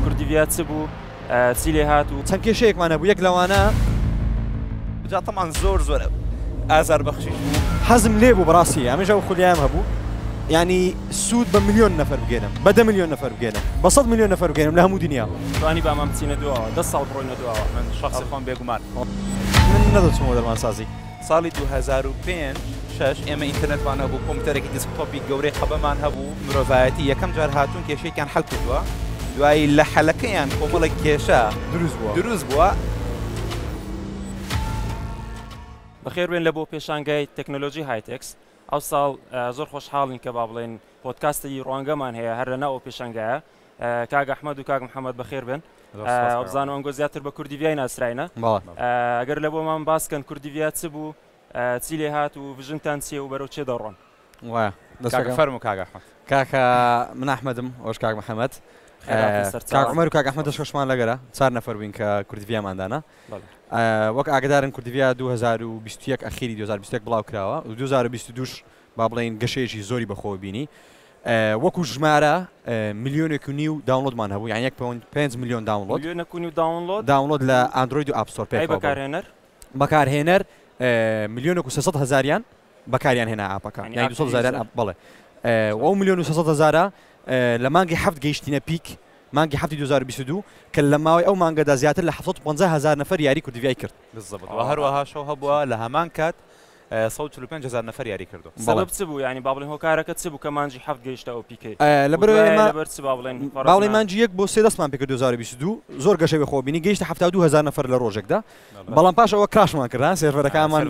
کوردیڤیا چ بوو چی لێ هات و چەند کێشەیەکمان هەبوو یەک لەوانە جا تەمان زۆر زۆر ئازار بەخشی حەزم لێ بوو بڕاستی ئەمەش ئەو خولیان هەبوو ینی سوود بە میلیۆن نەفەر بگەێنم بە دە میلیۆن نەفەر بگەێنم بە سەد میلیۆن نەفەر بگەێنم لە هەموو دنیا توانی بامان بچینە دواوە دە ساڵ بڕۆینە دواوە من شخصی خۆم بێگومان من نەدەچمەوە دەرمانسازی ساڵی دوو هەزار و پێنج شەش ئێمە ئینتەرنێتمان هەبوو، کۆمپیوتەرێکی دسکتۆپی گەورەی قەبەمان هەبوو، مرۆڤایەتی یەکەم جار هاتوون کێشەیەکیان حەل کردووە، دوایی لە حەلەکەیان کۆمەڵێک کێشە دروست بووە. دروست بووە. بەخێربێن لە بۆ پێشانگای تەکنۆلۆژی هایتێکس ئەوساڵ، زۆر خۆشحاڵین کە با بڵێین پۆدکاستی ڕوانگەمان هەیە هەر لەناو ئەو پێشانگایە. کاک ئەحمد و کاک محەممەد بەخێر بن بزانم ئەنگۆ زیاتر بە کوردی بیای ناسراینە ئەگەر لە بۆمان باسکەن کوردی بیا چ بوو چی لێ هات و ڤژنتان چیە و بەرەو چێ دەڕۆن فەرم و کاگە کاکە من ئەحمەدم ئەوش کاک محەممەد سەرمەر کاک ئەحمەد دەشخشمان لەگەرە چار نەفەر بووین کە کوردیاماندانا وەک ئاگدارن کوردیا 2021 ئەخیری 2021 بڵاو کراوە و 2022 با بڵین گەشەیەکی زۆری بەخۆ بینی وەکو ژمارە ملیۆنێک و نیو داونڵۆدمان هەبوو یان یەک پۆینت پێنج ملیۆن داونڵۆد ملیۆنێک و نیو داونڵۆد داونڵۆد لە ئاندرۆید و ئاپ ستۆر ئەی پێکەوە بەکارهێنەر بەکارهێنەر ملیۆنێک و سێ سەد هەزاریان بەکاریان هێنا ئاپەکە یعنی یانی ئاپ دوو سەد هەزاریان یوزەر ئاپ بەڵێ ئەو ئەو ملیۆن و سێ سەد هەزارە ئه، لە مانگی حەفت گەیشتینە پیک مانگی حەفتی دوو هەزار و بیست و دوو کە لە ماوەی ئەو مانگەدا زیاتر لە حەفت سەد و پەنجا هەزار نەفەر یاری کوردڤای کرد. بالزبط. وە هەروەها شەو هەبووە لە هەمان کات سەد و چل و پێنج هەزار نەفەر یاری کردووە. سەبەب چ بوو یانی با بڵێین هۆکارەکە چ بوو کە مانجی حەفت گەیشتە ئەو پیکەی و دوایە لەبەر چ با بڵێین با بڵێین مانجی یەک بۆ سێ دەستمان پێ کرد دوو هەزار و بیست و دوو زۆر گەشەی بە خۆوە بینی گەیشتە حەفتا و دوو هەزار نەفەر لە ڕۆژێکدا بەڵام پاش ئەوە کراشمان کرد ها سێرڤەرەکانمان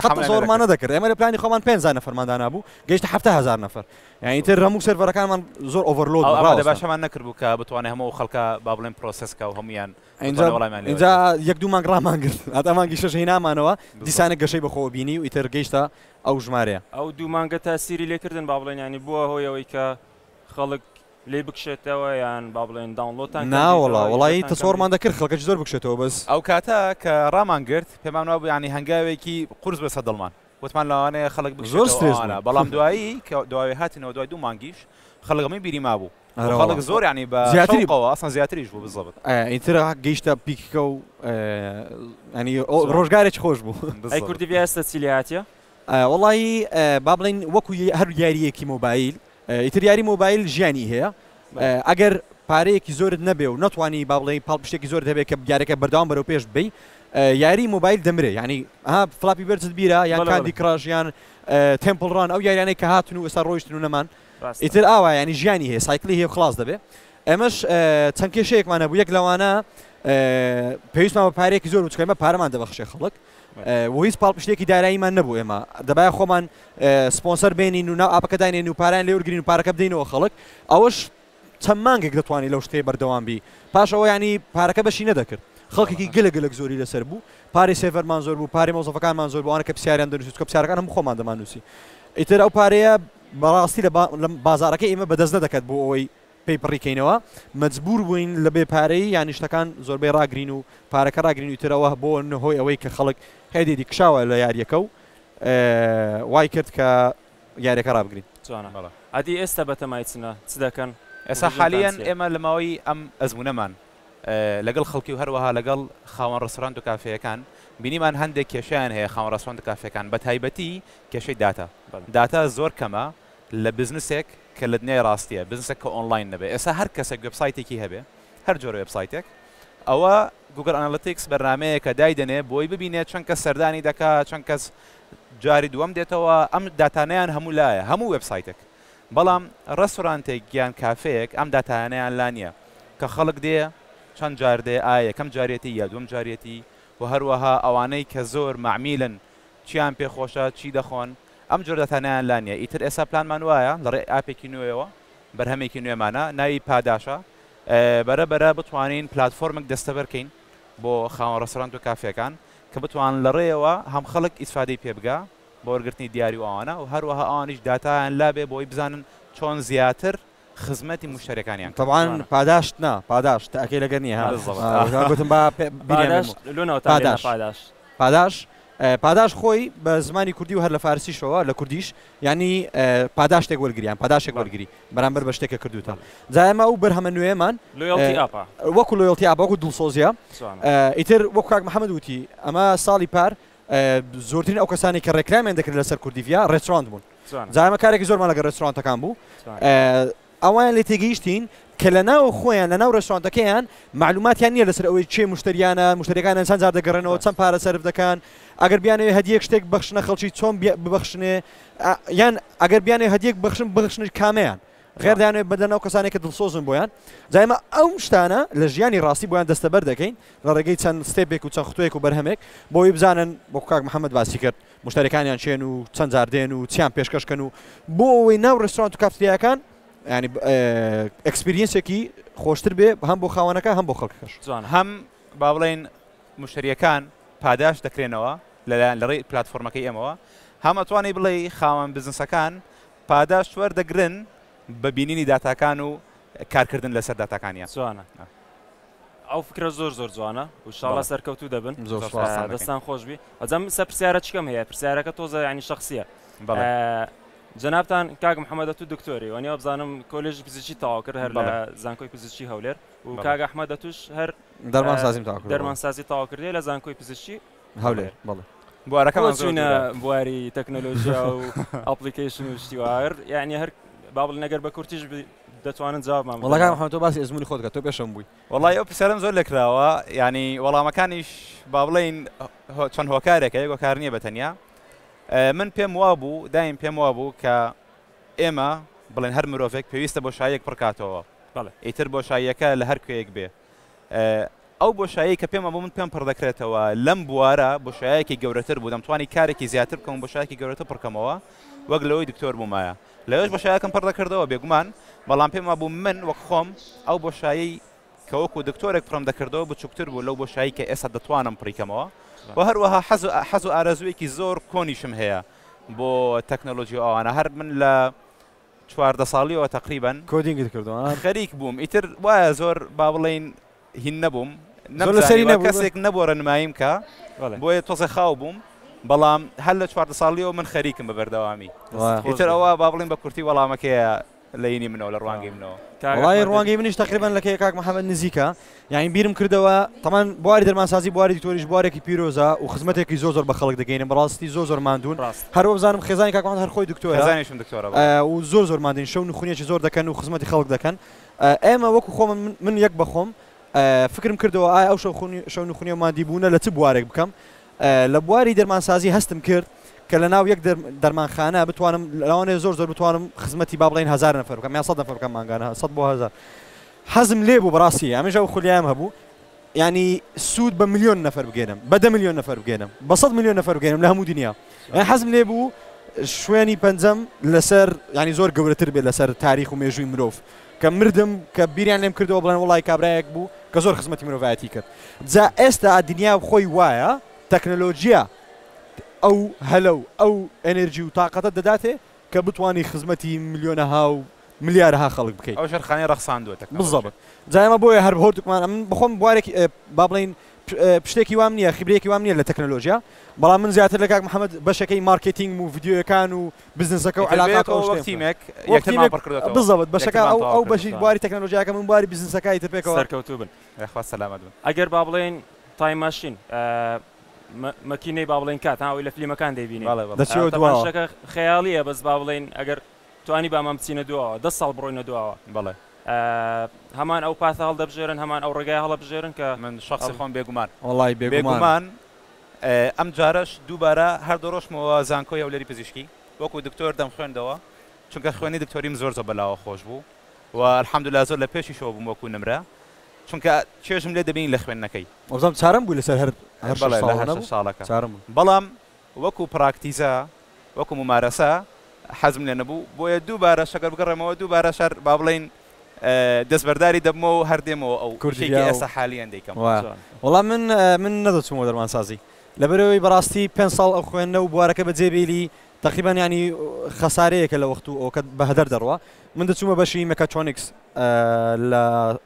قەت زۆرمان نەدەکرد ئێمە لە پلانی خۆمان پێنج هەزار نەفەرمان دانابوو گەیشتە حەفتا هەزار نەفەر یانی تر هەموو سێرڤەرەکانمان زۆر ئۆڤەرلۆد ئەوە باشەمان نەکردبوو کە بتوانێت هەموو ئەو خەڵکە با بڵێین پرۆسێس کا و هەموویان ئینجا یەک دوو مانگ ڕامانگرت هەتا مانگی شەش هینامانەوە دیسانە گەشەی بەخۆوە بینی و ئیتر گەیشتە ئەو ژمارەیە ئەو دوو مانگە تاسیری لێکردن با بڵێن ینی بووە هۆی ئەوەی کە خەڵک لی بکشێتەوە یان با بڵێن داونلۆتان ناوەڵا وڵی تەسۆڕمان دەکرد خەڵکەش زۆر بکشێتەوە بەس ئەو کاتە کە ڕامانگرت پێمان وابوو ینی هەنگاوێکی قورس بەسە دڵمان وتمان لەوانەیە خەڵک بکشێتەوە ئەوانە بەڵام دوایی کە دواوێ هاتینەوە دوای دوو مانگیش خەڵک ئەمەی بیری مابوو خەڵک زۆر عنی بە زیاتریەوە ئەسان زیاتریش بوو بزەبت ئیتر گەیشتە پیککە و ئەنی ڕۆژگارێک خۆش بوو کوردی ئێستا چی لێ هااتە وڵی با بڵین وەکو هەر یاریەکی مۆبایل ئیتر یاری مۆبایل ژیانی هەیە ئەگەر پارەیەکی زۆرت نەبێ و نەتوانی با بڵێ پاڵپشتێکی زۆر دەبێت کە بگارەکە بەردەوام بەرەو پێش بی یاری مۆبایل دەمرێ ینی ها فلاپی بەرزت بیرە یان کاندی کڕژیان تمپلڕان ئەو یاریانەی کە هاتن و ئستا ڕۆیشتن و نەمان ئیتر ئاوا ینی ژیانی هەیە سایکلی هەیە خلاص دەبێ ئەمەش چەند کێشەیەکمانە بوو یەک لەوانە پێویستمان بە پارێکی زۆر بچکەمە پارەمان دەبەخشێ خەڵک و هیچ پاڵپشتێکی داراییمان نەبوو ئێمە دەبایە خۆمان سپۆنسەر بێنین و ناو ئاپەکە داینێن و پاران لێ وەرگین و پارەکە بدەینەوە خەڵک ئەوەش چەند مانگێک دەتوانانی لەو شتێ بەردەوام بی پاش ئەوە ینی پارەکە بەشی نەدەکرد خەڵکێکی گەلە گەلک زۆری لەسەر بوو پارێ سێڤەرمان زۆر بوو پارێ مۆزەفەکانمان زۆر بووانە کە پرسیاریان دەنووس کە پرسیارەکان هەم خۆمان دەماننووسی ئیتر ئەو پارەیە بەڕاستی لە بازارەکە ئێمە بەدەست نەدەکات بۆ ئەوەی پێی پڕیکەینەوە مەجبور بووین لە بێ پارەیی یانی شتەکان زۆربەی ڕاگرین و پارەکە ڕاگرین و ئیتر ئەوە بۆ هۆی ئەوەی کە خەڵک هێدێدی کشاوە لە یاریەکە و وای کرد کە یاریەکە ڕابگرین. جوانە بەڵێ ئەدی ئێستا بەتەمای چنە چ دەکەن؟ ئێستا حالیەن ئێمە لە ماوەی ئەم ئەزمونەمان لەگەڵ خەڵکی و هەروەها لەگەڵ خاوەن ڕێستۆرانت و کافێیەکان بینیمان هەندێک کێشەیان هەیە خاوەن ڕێستۆرانت و کافێکان بەتایبەتی کێشەی داتا داتا زۆر کەمە لە بزنسێک کە لە دنیای ڕاستیە، بزنسێک کە ئۆنڵاین نەبێت، ئێستا هەر کەسێک وێبسایتێکی هەبێ، هەر جۆرە وێبسایتێک، ئەوە گوگڵ ئەنالیتیکس بەرنامەیەکە دایدەنێ بۆی ببینێ چەند کەس سەردانی دەکا، چەند کەس جاری دووەم دێتەوە، ئەم داتانەیان هەموو لایە، هەموو وێبسایتێک، بەڵام ڕێستۆرانتێک یان کافێیەک ئەم داتایانەیان لا نیە، کە خەڵک دێ چەند جار دێ، ئایا یەکەم جاریەتی یا دووەم جاریەتی و هەروەها ئەوانەی کە زۆر مەعمیلن چیان پێ خۆشە، چی دەخۆن. ئەم جۆرە داتانەیان لا نییە، ئیتر ئێستا پلانمان وایە لەڕێی ئاپێکی نوێیەوە، بەرهەمێکی نوێمانە ناوی پاداشە، بەرە بەرە بتوانین پلاتفۆرمێک دەستەبەر کەین بۆ خاوەن ڕێستۆرانت و کافێکان کە بتوانن لەڕێیەوە هەم خەڵک ئیسفادەی پێ بگا بۆ وەرگرتنی دیاری و ئەوانە و هەروەها ئەوانیش داتایان لابێ بۆی بزانن چۆن زیاتر خزمەتی موشتەریەکانیان کەن تەبعەن جوانە. پاداشت نا پاداشت تاکەی لەگەر نیە ها بالضبط اه وەک ئەوان گۆتم با پێ بیریان بێ پاداشت لۆ ناوتان بێت لە پاداش پاداش. پاداش اه پاداش خۆی بە زمانی کوردی و هەر لە فارسیشەوە لە کوردیش یانی اه پاداشتێک وەرگری یان پاداشێک بەڵێ وەرگری بەرامبەر بە شتێک کە کردوتە بەڵێ جا ئێمە ئەو بەرهەمە نوێیەمان لۆیاڵتی ئاپە اه وەکو لۆیاڵتی ئاپە وەکو دڵسۆزیە جوانە اه ئیتر وەکو کاک محمد وتی ئەمە ساڵی پار زۆرترین ئەو کەسانەی کە ڕێکلامیان دەکرد لەسەر کوردیڤیا ڕێستۆرانت بوون جا ئێمە کارێکی زۆرمان لەگەڵ ڕێستۆرانتەکان بوو ئەوان لێ تێگەیشتین کە لە ناو خۆیان لە ناو ڕێستۆرانتەکەیان معلوماتیان نییە لەسەر ئەوەی چێ مشتریانە مشتریەکان ئەسان زار دەگەڕێنەوە چەند پارە سرف دەکەن ئەگەر بیانەوە هەدیەک شتێک بەخشنە خەڵکی چۆن ببخشنێ یان ئەگەر بیانێ هەدیەک بەخشن بخشنش کامیان خێر دەیانەوێت بدەن ئەو کەسانەی کە دڵسۆزن بۆیان جا ئێمە ئەو شتانە لە ژیانی ڕاستی بۆیان دەستەبەر دەکەین لە ڕێگەی چەند ستێپێک و چەند ختوەیەک و بەرهەمێک بۆی بزانن وەکو کاک محەممەد باسی کرد مشتەرەکانیان چێن و چەند جار دێن و چیان پێشکەشکەن و بۆ ئەوەی ناو ڕێستورانت و کافتریاکان ینی ئەکسپریەنسێکی خۆشتر بێ هەم بۆ خاوەنەکە هەم بۆ خەڵکەکەش جوان هەم با بڵین مشتریەکان پاداش دەکرێنەوە لەلایەن لەڕێی پلتفۆرمەکەی ئەمەوە هەم ئەتوانی بڵێ خاوەن بزنسەکان پاداشت وەردەگرن بە بینینی داتاکان و کارکردن لەسەر داتاکانیان جوانە ئەو فکرە زۆر زۆر جوانە وشاڵە سەرکەوتو دەبن دەستان خۆشبی ئەجەم سە پرسیارە چکەم هەیە پرسیارەکە تۆزە ینی شخصیە جنابان کاک محەممەدە تو دکتۆری وەنی بزانم کۆلژ پزیشی تاوا کرد هەر لە زانکۆی پزیشی هەولێر و کاگە ئەحمەدە توش هەر دەرمانسازی تاوا دەرمانسازی تاوا کردی لە زانکۆی پزیشی هەولێر بەڵێ بوارەکەمان زۆینە بواری تەکنەلۆژیا و ئەپلیکیشن و شتیوار یعنی هەر بابل نەگەر بە کورتیش دەتوانن جوابمان وڵگان خۆ تۆ باسی ئزمموی خۆتگە تۆ پێشم بووی وڵی ئەو پرسیارم زۆر لەکراوە ینی وەڵامەکانیش با بڵین چەند هۆکارێکە یەک هۆکار نییە بەتەنیا من پێم وا بوو دایم پێم وا بوو کە ئێمە بڵێن هەر مرۆڤێک پێویستە بۆ شایەک پڕکاتەوە ئیتر بۆ شایەکە لە هەر کوێیەک بێ ئەو بۆشایەی کە پێم ئەبوو من پێم پڕ دەکرێتەوە لەم بوارە بۆشایەکی گەورەتر بوو دەمتوانی کارێکی زیاتر بکەم بۆشایەکی گەورەتە پڕکەمەوە وەک لەوەی دکتۆر بوومایە لەوێش بەشایەکەم پڕ دەکردەوە بێگومان بەڵام پێم ئەبوو من وەک خۆم ئەو بۆشایی کەوەکو دکتۆرێک پڕم دەکردەوە بچووکتر بوو لەو بۆشایی کە ئێستا دەتوانم پڕیکەمەوە و هەروەها حەز حەز و ئارەزوویەکی زۆر کۆنیشم هەیە بۆ تەکنەلۆژی ئەوانە هەر من لە چواردە ساڵیەوە تەقریبەن کۆدینگت کردوە ها؟ خەریک بووم ئیتر وایە زۆر با بڵێین هین نەبووم زۆر لە سەری نەمزانی نەبوو. کەسێک نەبوو ڕێنماییم کا بەڵێ. بۆیە تۆزێ خاو بووم بەڵام هەر لە چواردە ساڵیەوە من خەریکم بە بەردەوامی وا. دەستت خۆش ئیتر بێت. ئەوە با بڵێین بە کورتی وەڵامەکەیە لە هینی منەوە لە ڕوانگەی منەوە. کاک وەڵای ئەحمەد. ڕوانگەی منیش تەقریبەن لە کەی کاک محەمەد نزیکە یانی بیرم کردەوە تەمان بواری دەرمانسازی بواری دکتۆریش بوارێکی پیرۆزە و خزمەتێکی زۆ زۆر بە خەڵک دەگەینە بەڕاستی زۆ زۆر مادون ڕاست هەرۆ بزانم خێزانی کاکوان هەرخۆی دکتۆرزانیشم دکتۆرە و زۆر زۆر مادین شەو نخونیەکی زۆر دەکەن و خزمەتی خەڵک دەکەن ئێمە وەکو خۆم من یەک بەخۆم فکرم کردەوە ئایا ئەو شەوخونی شەو نخونی و مادی بوونە لە چ بوارێک بکەم لە بواری دەرمانسازی هەستم کرد کە لە ناو یەک دەرمانخانە بتوانم لەوانێ زۆر زۆر بتوانم خزمەتی با بڵین هزار نفر بکەم یا سە نفر بکەم ماگانە سە بۆ هزار حەزم لێ بوو بەڕاستی ئەمنیش ئەو خولیام هەبوو یانی سوود بە ملیۆن نەفەر بگەێنم بە دە ملیۆن نەفەر بگەێنم بە سەد ملیۆن نەفەر بگەێنم لە هەموو دنیا یان حەزم لێ بوو شوێنی پەنجەم لەسەر ینی زۆر گەورەتر بێت لەسەر تاریخ و مێژووی مرۆڤ کە مردم کە بیریان لێم کردەوە بڵێن وڵی کابراایەک بوو کە زۆر خزمەتی مرۆڤایەتی کرد جا ئێستا دنیا خۆی وایە تەکنەلۆژیە ئەو هەلە و ئەو ئەنرژی و تااقەتە دەداتێ کە بتوانی خزمەتی ملیۆنەها و ملیارەها خەڵک بکەیت. ئەو ژێرخانی ڕەخساندووە تەکنەلۆژیا. بزەبت. جا ئێمە بۆیە هەر هۆردکمان ئەمن بەخۆم بوارێک با بڵێین پشتێکی وام نییە، خیبرەیەکی وام نییە لە تەکنەلۆژیا، بەڵام من زیاتر لە کاک محەمەد بەشەکەی مارکێتینگم و ڤیدیۆیەکان و بزنسەکە و عەلاقات و ئەو شتەی. ئیتر بۆ یەک تیمێک یەکترمان پڕ کردۆتەوە. وەک تیمێک بزەبت. بەشەکە ئەو ئەو بەشی بواری تەکنەلۆژیاکە من بواری بزنسەکە ئیتر پێکەوە. سەرکەوتوو بن. یاخوا سەلامەت بن. ئەگەر با بڵێین تایم ماشین. مەکینەی با بڵێین کات ها ئەوەی لە فلیمەکان دەیبینین بەڵێ بەڵێ دەچێتە تەبعەن دواوە شتەکە خەیاڵییە بەس با بڵێین ئەگەر توانیبامان بچینە دواوە دە ساڵ بڕۆینە دواوە بەڵێ ئا هەمان ئەو پاسە هەڵدەبژێرن هەمان ئەو ڕێگای هەڵەبژێرن کە من شەخسی خۆم بێگومان وەڵای بێگومان بێگومان ئێ ئەم جارەش دووبارە هەر دەڕۆشمەوە زانکۆی هەولێری پزیشکی وەکوو دکتۆر دەمخوێندەوە چونکە خوێنی دکتۆریم زۆر زۆر بەلاوە خۆش بوو و الحمدللە زۆر لە پێشیشەوە بووم وەکوو نمرە چونکە چێژم لێ دەبینی لە خوێندنەکەی وابزانم چارەم بووی لەسەر هەر هەر شەش ساڵە نەبوو ساڵەکە چارەم بووی بەڵام وەکو پراکتیزە وەکو مومارەسە حەزم لێ نەبوو بۆیە دووبارە شەگەر بگەڕێمەوە دووبارە شار با بڵێین دەستبەرداری دەبمەوە هەر دێمەوە ئەو کوردی ئێستا حالیان دەیکەم وەڵام من من نەدەچوومەوە دەرمانسازی لەبەرەوەی بەڕاستی پێ ساڵ ئەو خوێندنە و بوارەکە بە جێبیلی تەقیبان ینی خەسارەیەکە لە وەخت و ئەوکە بەهدەر دەڕوە من دەچوومە بەشی مەکەتۆنیکس لە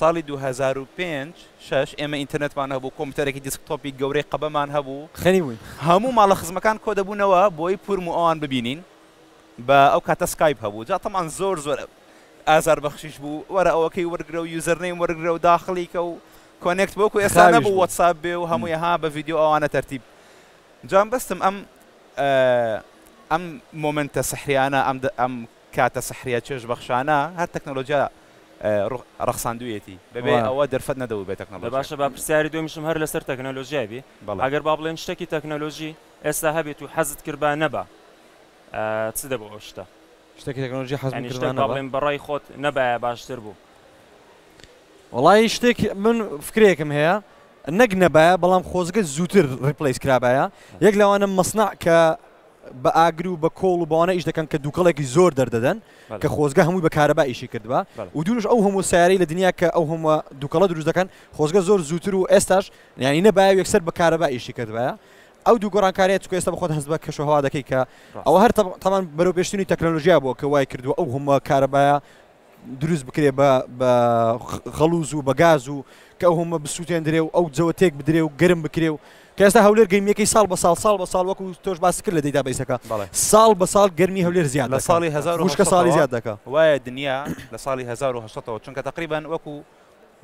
ساڵی دوو هەزار و پێنج، شەش ئێمە ئینتەرنێتمان هەبوو، کۆمپیوتەرێکی دیسکتۆپی گەورەی قەبەمان هەبوو، هەموو ماڵە خزمەکان کۆ دەبوونەوە بۆی پورم و ئەوان ببینین، بە ئەو کاتە سکایپ هەبوو، جا تەبعەن زۆر زۆر ئازار بەخشیش بوو، وەرە ئەوەکەی وەرگرە و یوزەر نەیم وەرگرە و داخڵی کە و کۆنێکت بە وەکو ئێستا نەبوو وەتساپ بێ و هەمووی ها بە ڤیدیۆ ئەوانە تەرتیب جا مەبەستم ئەم ئەم مۆمێنتە سحریانە ئەم ئەم کاتە سحریە چێژ بەخشانە هەر تەکنەلۆجیا رەخساندویەتی بەبێ ئەوە دەرفەت نەدەبوو بێ تەکنەلۆجیا. دە باشە با پرسیاری دومیشم هەر لەسەر تەکنەلۆجیا بی ئەگەر با بڵێن شتەکی تەکنەلۆجی ئێستا هەبێت و حەزت کرد با نەبا چ دەبوو ئەو شتە؟ شتەکی تەکنەلۆجی حەزم کرد با نەبا؟ یانی شتەک با بڵێن بەڕای خۆت نەبایە باشتر بوو. وەڵایی شتێک من فکرەیەکم هەیە نەک نەبایە بەڵام خۆزگە زووتر ڕیپلەیس کرابایە یەک لەوانە مەسنەع کە، بە ئاگر و بە کۆڵ و بەوانە ئیش دەکەن کە دووکەڵێکی زۆر دەردەدەن کە خۆزگە هەمووی بە کارەبا ئیشی کردبا و دوورش ئەو هەموو سیارەی لە دنیا کە ئەو هەموو دووکەڵە دروست دەکەن خۆزگە زۆر زووتر و ئێستاش یانی نەبایە و یەکسەر بە کارەبا ئیشی کردبایە ئەو دوو گۆڕانکاریە چکە ئێستا بەخۆت هەست بە کەش و هەوا دەکەی کە ئەوە هەر تەمان بەرەو پێشتنی تەکنەلۆژیا بووە کە وای کردووە ئەو هەموو کارەبایە دروست بکرێ بە بە خەڵوز و بە گاز و کە ئەو هەمە بسووتێندرێ و ئەو جەوە تێک بدرێ و گەرم بکرێ و کە ئێستا هەولێر گەرمیەکەی ساڵ بە ساڵ ساڵ بە ساڵ وەکو تۆش باس کرد لە دیدا بیسەکە ساڵ بە ساڵ گەرمی هەولێر زیاد لە ساڵی هزار وشکە ساڵی زیاد دەکە وایە دنیا لە ساڵی 1970ەوە چونکە تقریبان وەکو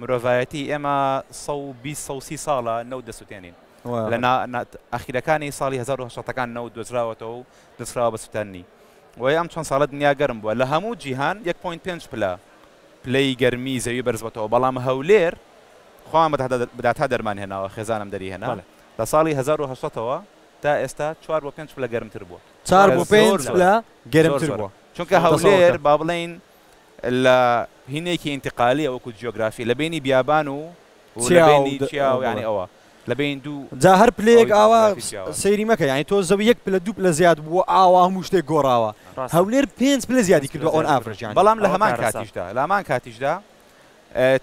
مرۆڤایەتی ئێمە 120 ساڵە نەوت دەسووتێنین لە ئەخیرەکانی ساڵی 1970ەکان نەوت دۆزراوەتەوە و نوسراوە بە سوتەنی وەی ئەم چەند ساڵە دنیا گەرم بووە لە هەموو جیهان یەک پۆینت پێنج پلە پلەی گەرمی زەوی بەرزبۆتەوە بەڵام هەولێر خۆمان بە داتا دەرمان هێناوە خێزانم دەری هێنا لە ساڵی هەزار و هەشت سەد ەوە تا ئێستا چوار بۆ پێنج پلە گەرمتر بووە چوار بۆ پێنج پلە گەرمتر بووە چونکە هەولێر با بڵێین لە هینێکی ئینتقالیە وەکو جیۆگرافی لە بینی بیابان و و لە بینی چیا و یانی ئەوە لە بین دوو جا هەر پلەیەک ئاوا سەیری مەکە یانی تۆ زەوی یەک پلە دوو پلە زیاد بووە ئاوا هەموو شتێک گۆڕاوە هەولێر پێنج پلە زیادی کردو ئۆن ئافرەجان بەڵام لە هەمان کاتیشدا لە هەمان کاتیشدا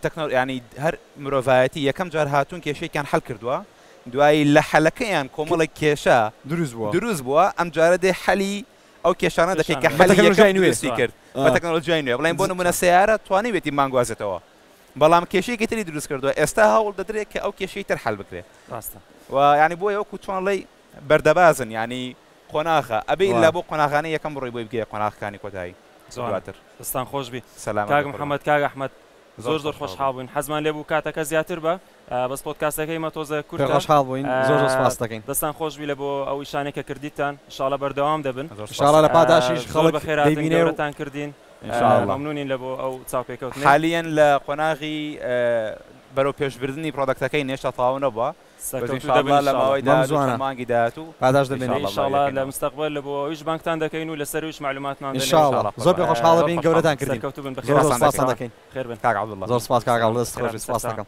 تەکنۆل ینی هەر مرۆڤایەتی یەکەم جار هاتوون کێشێکیان حل کردووە دوایی لە حەلەکەیان کۆمەڵێک کێشە دروست بووە دروست بووە ئەم جارە دێ حەلی ئەو کێشانە دەکەیت کە حەلی یەکەم دروستی کرد بە تەکنەلۆژیای نوێ بڵێن بۆ نمونە سەیارە توانیوێتی مانگوازێتەوە بەڵام کێشەیەکی تری دروست کردووە ئێستا هەوڵ دەدرێت کە ئەو کێشەی تر حل بکرێت ڕاستە و ینی بۆ ئەوکو توانڵی بەردەبازن ینی قۆناغە ئەبێ لا بۆ قۆناغانی یەکەم بڕی بۆی بگەێ قۆناغەکانی کۆتایی زۆراتر دەستان خۆشبی سەلام کاک محەممەد کاگ ئەحمد زۆر زۆر خۆشحاڵ بووین حەزمان لێ بوو کاتەکە زیاتر بە بەس پۆدکاستەکەی مە تۆزێ کورتە. پێ خۆشحاڵ بووین زۆر زۆر سپاست دەکەین. دەستان خۆش بی لە بۆ ئەو ئیشانەی کە کردیتان ان شاء اللە بەردەوام دەبن. ان شاء اللە لە پاداشیش خەڵک دەیبینێ و. زۆر بە خێراتن گەورەتان کردین. ان شاء اللە. مەمنونین لە بۆ ئەو چاوپێکەوتنەی. حالیەن لە قۆناغی بەرەو پێش بردنی پرۆدەکتەکەین هێشتا تەواو نەبووە. سەرکەوتوو دەبن ان شاء اللە. ان شاء اللە لە ماوەی داهاتوو چەند مانگی داهاتوو پاداشت دەبینن. ان شاء اللە لە مستەقبەل لە بۆ ئەویش بانگتان دەکەین و لە سەر ئەویش مەعلوماتمان دەنێرین. ان شاء اللە. زۆر پێ خۆشحاڵ دەبین گەورەتان کردین. سەرکەوتوو بن بەخێراتان دەکەین. زۆر زۆر سپاستان دەکەین. خێر بن. کاک عەبدوڵڵە. زۆر سپاس کاک عەبدوڵڵە دەست خۆش بی سپاست دەکەم.